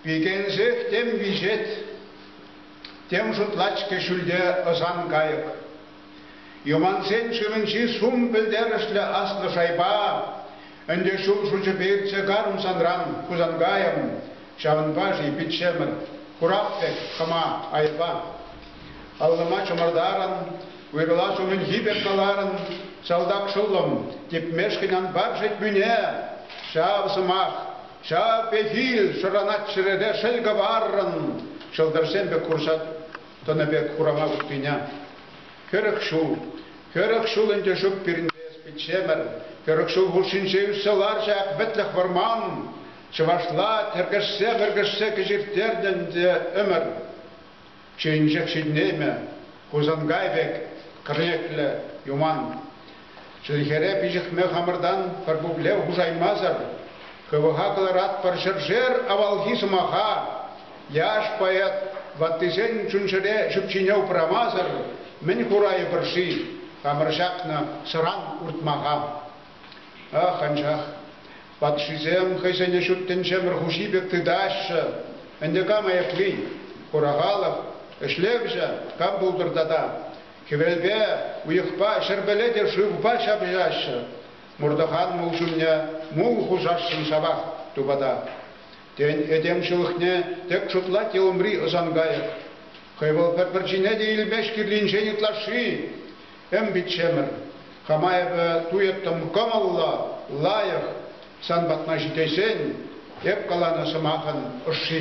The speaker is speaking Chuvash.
Пикенсех тем виҫет, тем шутлать-ҫке ҫӳлте ӑсан кайӑк. Юмансен шывӗнчи сум пӗлтерӗшлӗ аслӑ шайба ӗнтӗ ҫул шучӗпе иртсе карӑм санран, Хусанкайӑм, ҫавӑнпа-ши, пиччемӗр, курап пек хӑма айӑпа. Аллӑма чӑмӑртарӑн, уйрӑла ҫумӗнхи пек каларӑн, «Салтак шӑллӑм, типмешкӗн ан пар шетмӳне!» Ҫав сӑмах, ҫав пехил шӑранать чӗрере шел кӑваррӑн ҫӑлтӑрсем пек курсат тӑнӑ пек хурама уттине. Хӗрӗх ҫул, хӗрӗх ҫул ӗнтӗ ҫук пирӗнпе эс пиччемӗр, хӗрӗх ҫул хушшинче ӳссе лар ҫак вӗтлӗх вӑрман, чӑвашла тӗркӗшсе-вӗркӗшсе кӗҫирттернӗ ӗнтӗ ӗмӗр. Чечек ҫитӗнеймӗ, Хусанкай пек кӗрнеклӗ юман. Чӗлхере пиҫӗхме хамӑртан пӗр пуплев хушаймасӑр хӑвӑха кӑларатпӑр ҫӗршер авалхи сӑмаха. Яш поэт ваттисен чун-чӗре ҫӳпҫине упрамасӑр мӗн хурайӑпӑр-ши хамӑр ҫакнӑ сӑран уртмаха? Ах, анчах патшисем хӑйсене ҫут тӗнчемӗр хуҫи пек тытаҫҫӗ. Ӗнтӗ кам айӑпли? Хура халӑх ӗҫлевҫӗ кам пултӑр тата? Хӗвелпе, уйӑхпа, ҫӗрпеле те шывпа ҫапӑҫаҫҫӗ. Муртӑхан мул ҫумне мул хушасшӑн ҫавах тупата. Тен, этем ҫылӑхне тек шутлать те умри ӑсан кайӑк? Хӑй вӑл пӗр-пӗрчине те илмест кирлинчен ытлашши. Эм, пиччемӗр, хама эпӗ туйӑттӑм кӑмӑллӑ, лайӑх. Сан патна ҫитесен эп каланӑ сӑмахӑн ӑшши.